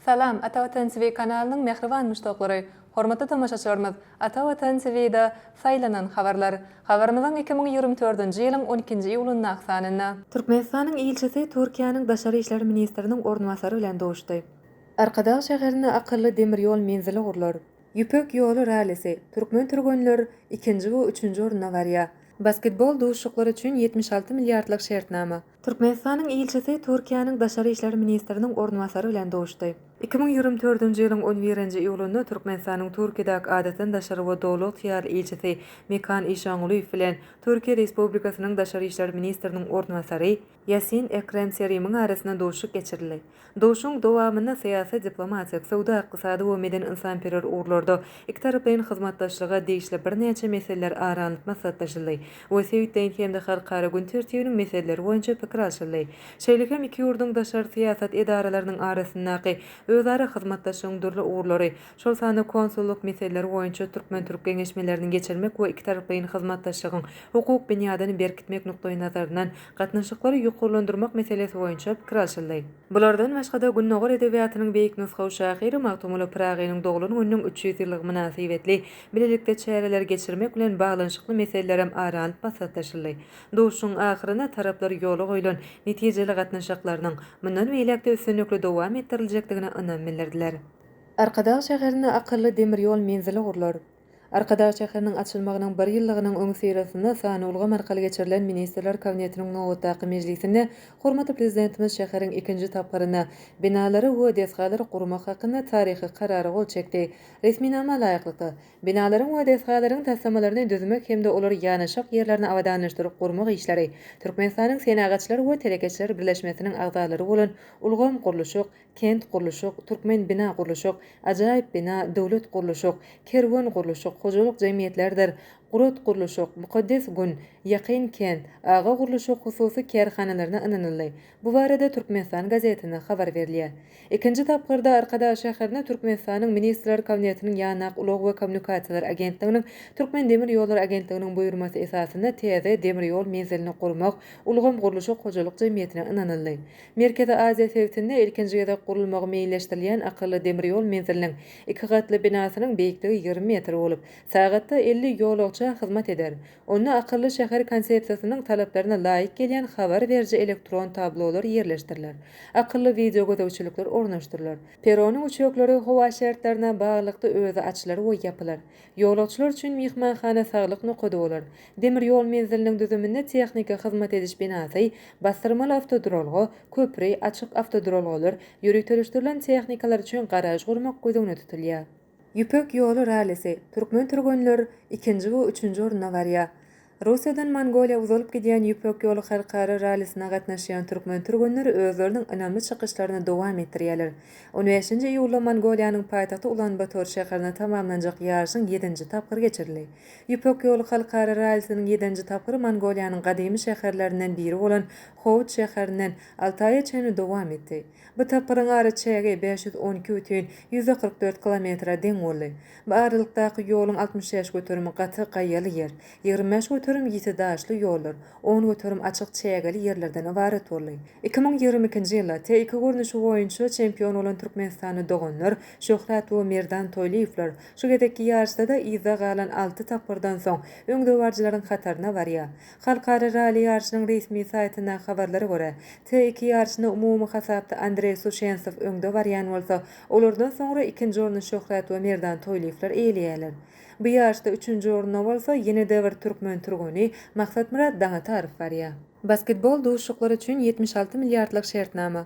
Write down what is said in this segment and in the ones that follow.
Salam, Ata Watan TV kanalynyň mähriban muşdaklary! Hormatly tomaşaçylarymyz, Ata Watan TV-da Saýlanan habarlar. Habarymyzyň iki müň ýigrimi dördünji ýylyň on ikinji iýulyndaky sanynda. Türkmenistanyň ilçisi Türkiýäniň daşary işler ministriniň orunbasary bilen duşdy. Arkadag şäherinde akylly demir ýol menzili gurlar. Ýüpek ýoly rallisi, türkmen türgenler ikinji we üçünji orunda barýar. Basketbol duşuşyklary üçin ýetmiş alty milliardlyk şertnama. Türkmenistanyň ilçisi Türkiýäniň daşary işler ministriniň orunbasary bilen duşdy. Iki müň ýigrimi dördünji ýylyň on birinji iýulynda Türkmenistanyň Türkiýedäki Adatdan daşary we Doly ygtyýarly ilçisi Mekan Işangulyýew bilen Türkiýe Respublikasynyň daşary işler ministriniň orunbasary Ýasin Ekrem Serimiň arasynda duşuşyk geçirildi. Duşuşygyň dowamynda syýasy-diplomatik, söwda-ykdysady we medeni-ynsanperwer ugurlarda ikitaraplaýyn hyzmatdaşlyga degişli birnäçe meseleler ara alnyp maslahatlaşyldy we sebitleýin hem-de halkara gün tertibiniň meseleleri boýunça pikir alşyldy. Şeýle hem iki ýurduň daşary syýasat edaralarynyň arasyndaky özara hyzmatdaşlygyň dürli ugurlary, şol sanda konsullyk meseleleri boýunça türkmen-türk geňeşmelerini geçirmek we ikitaraplaýyn hyzmatdaşlygyň hukuk binýadyny berkitmek nukdaýnazaryndan gatnaşyklary ýokarlandyrmak meselesi boýunça pikir alşyldy. Bulardan başga-da, Gündogar edebiýatynyň beýik nusgawy şahyry Magtymguly Pyragynyň doglan gününiň üç ýüz ýyllygy mynasybetli bilelikde çäreler geçirmek bilen baglanyşykly meseleler hem ara alnyp maslahatlaşyldy. Duşuşygyň ahyrynda taraplar ýola goýlan netijeli gatnaşyklarynyň mundan beýläk-de üstünlikli dowam etdiriljekdigine ynam bildirdiler. Arkadag şäherinde akylly demir ýol menzili gurlar. Arkadag şäheriniň açylmagynyň bir ýyllygynyň öňüsyrasynda sanulgam arkaly geçirilen Ministrler Kabinetiniň nobatdaky mejlisinde hormatly Prezidentimiz şäheriň ikinji tapgyrynda binalary we desgalary gurmak hakynda taryhy Karara gol çekdi. Resminama laýyklykda, binalaryň we desgalaryň taslamalaryny düzmek hem-de olar ýanaşyk ýerlerini abadanlaşdyryp gurmak işleri Türkmenistanyň Senagatçylar we telekeçiler birleşmesiniň agzalary bolan Ulgam gurluşyk Kent gurluşyk, Türkmen bina gurluşyk, Ajaýyp bina, Döwlet gurluşyk, Kerwen gurluşyk, Hojalyk jemgyýetlerdir, Gurat gurluşyk, Mukaddes gün, Ýakyn kent, Aga gurluşyk hususy kärhanalaryna ynanyldy. Bu barada Türkmenistan gazetinde habar berilýär. Ikinji tapgyrda Arkadag şäherine Türkmenistanyň Ministrler Kabinetiniň Ýanak, ulag we kommunikasiýalar agentliginiň Türkmendemirýollary agentliginiň buýurmasy esasynda täze demir ýol menzilini gurmak Ulgam gurluşyk hojalyk jemgyýetine ynanyldy. Merkezi Aziýa sebitinde ilkinji gezek gurulmagy meýilleşdirilýän akylly demir ýol menziliniň iki gatly binasynyň beýikligi ýigrimi metr bolup, sagatda elli ýolagça hyzmat eder. Onda akylly şäher konsepsiýasynyň talaplaryna laýyk gelýän habar beriji elektron tablolar ýerleşdiriler, akylly wideogözegçilikler ornaşdyrylar, perronyň üçekleri howa şertlerine baglylykda özi açylar we ýapylar, Ýolagçylar üçin myhmanhana saglyk nokady bolar. Demir ýol menziliniň düzüminde tehniki hyzmat ediş binasy, basdyrmaly awtoduralga, köpri, açyk awtoduralgalar, ýöriteleşdirilen tehnikalar üçin garaž gurmak göz öňünde tutulýar. Ýüpek ýoly rallisi, Türkmen türgenler ikinji we üçünji orunda barýar. Russiýadan Mongoliýa uzalyp gidýän Ýüpek ýoly halkara rallisine gatnaşýan türkmen türgenleri özleriniň ynamly çykyşlaryny dowam etdirýärler. On bäşinji iýulda Mongoliýanyň paýtagty Ulan-Bator şäherinde tamamlanjak ýaryşyň ýedinji tapgyry geçirildi. Ýüpek ýoly halkara rallisiniň ýedinji tapgyry Mongoliýanyň gadymy şäherlerinden biri bolan Howut şäherinden Altaýa çenli dowam etdi. Bu tapgyryň ara çägi bäş ýüz on iki bütin ýüzde kyrk dört kilometre deň boldy. Bu aralykdaky ýoluň altmyş bäş göterimi gaty gaýaly ýer, ýigrimi bäş göterim ýiti daşly ýollar, on göterim açyk çägeli ýerlerden ybarat boldy. Iki müň ýigrimi ikinji ýylda TIK görnüşi boýunça çempion bolan türkmenistanly doganlar Şöhrat we Merdan Toýlyýewler şu gezekki ýaryşda-da yzda galan alty tapgyrdan soň öňdebaryjylaryň hataryna barýar. Halkara ralli ýaryşynyň resmi saýtyndaky habarlara görä, T iki ýaryşyna umumy hasapda Andreý Suçensow öňde barýan bolsa, olardan soňra ikinji orny Şöhrat we Merdan Toýlyýewler eýeleýärler. Bu ýaryşda üçünji orna bolsa ýene-de bir türkmen türgeni Maksatmyrat Daňatarow barýar. Basketbol duşuşyklary üçin ýetmiş alty milliardlyk şertnama.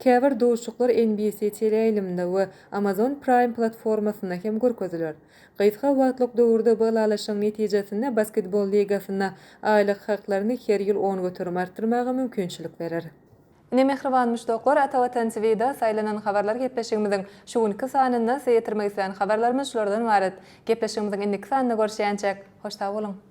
Käbir duşuşyklar NBC teleýaýlymynda we Amazon Prime platformasynda hem görkeziler. Gysga wagtlyk döwürde bu ylalaşygyň netijesinde basketbol ligasynda aýlyk haklaryny her ýyl on göterim artdyrmaga mümkinçilik berer. Ine mähriban muşdaklar Ata Watan TVda saýlanan habarlar gepleşigimiziň şu günki sanynda size ýetirmek isleýän habarlarymyz şulardan ybarat. Gepleşigimiziň indiki sanynda görüşýänçäk hoş sag boluň.